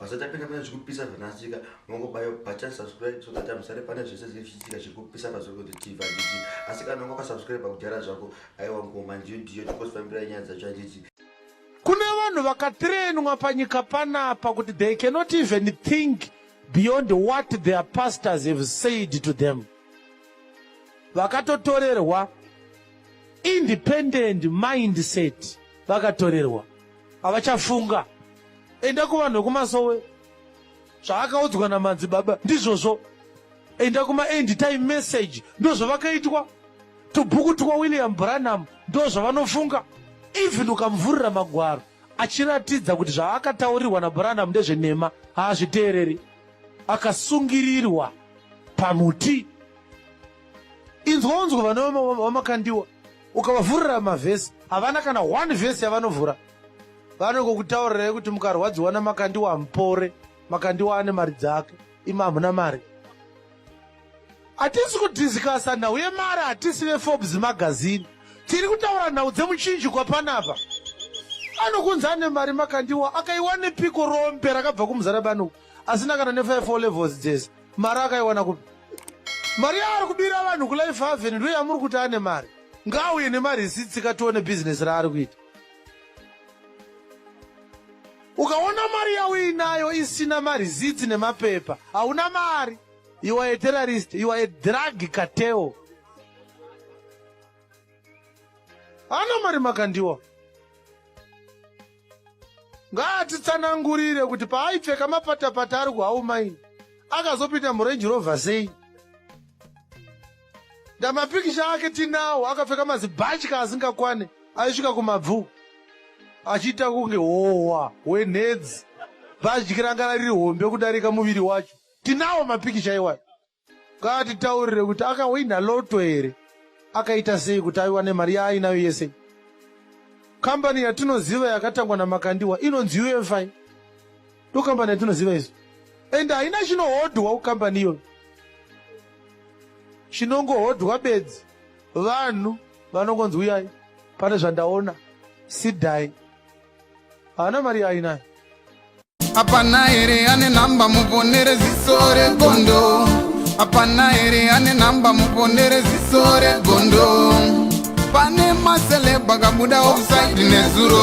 Basa tapinda pane zvikupisa zvanasika mongobayo button subscribe so that amusare pane zvese zvinenge zvichiitika zviri kupisa pazorikoti tv handiti asi kana unge wakasubscribe kudhara zvako aiwa ngoma ndiyo ndiyo tikosifambirai nyaya dzacho handiti kune vanhu vakatrenwa panyika panapa kuti they cannot even think beyond what their pastors have said to them vakatotorerwa independent mindset vakatorerwa havachafunga Enda kuvanhu vekumasowe zvaakaudzwa namanzi baba ndizvozvo enda kuma end time message ndozvavakaitwa tubhuku twa william branham ndozvavanofunga even ukamuvhurira magwaro achiratidza kuti zvaakataurirwa nabranham ndezvenhema haazviteereri akasungirirwa pamuti inzwa unzwa vana vamakandiwa ukavavhurira mavhesi havana kana one vhesi yavanovhura vanongokutaurirai kuti mukarwadziwa namakandiwa mupore makandiwa ane mari dzake imi hamuna mari hatisi kudhisikasa nhau yemari hatisi veforbes magazini tiri kutaura nhau dzemuchinjikwa panapa anokunzi ane mari makandiwa akaiwane piko rombe rakabva kumuzana banoku asina kana nefive levels dzese mari akaiwana kupi mari yaari kubira vanhu kulife haven ndo yamuri kuti ane mari ngaauye nemari isitsika tione bhizinesi raari kuita ukaona mari yauinayo isina marizitsi nemapepa hauna mari you are a terrorist you are a drug kateo ana mari makandiwa ngaatitsanangurire kuti paaipfeka mapatapata ari kuhaumaini akazopinda murenji rovha sei Ndamapikicha ake tinawo akapfeka mazibhatya asingakwane aisvika kumabvu achiita kunge howa hwenhedzi bhatyi ranga riri hombe kudarika muviri wacho. Tinawo mapikicha iwayo ngaatitaurire kuti akahwina loto here, akaita sei kuti aiwane mari yaainayo yese. Kambani yatinoziva yakatangwa naMakandiwa inonzi UFI. ndokambani yatinoziva isu and haina chinohodhwa kukambani iyoyo chinongohodhwa bedzi vanhu vanongonzi uyai pane zvandaona sidai haana mari yaainayo hapana here ane nhamba muponere ziso regondo hapana here ane nhamba muponere ziso regondo pane maselebha kabuda ofsaidi nezuro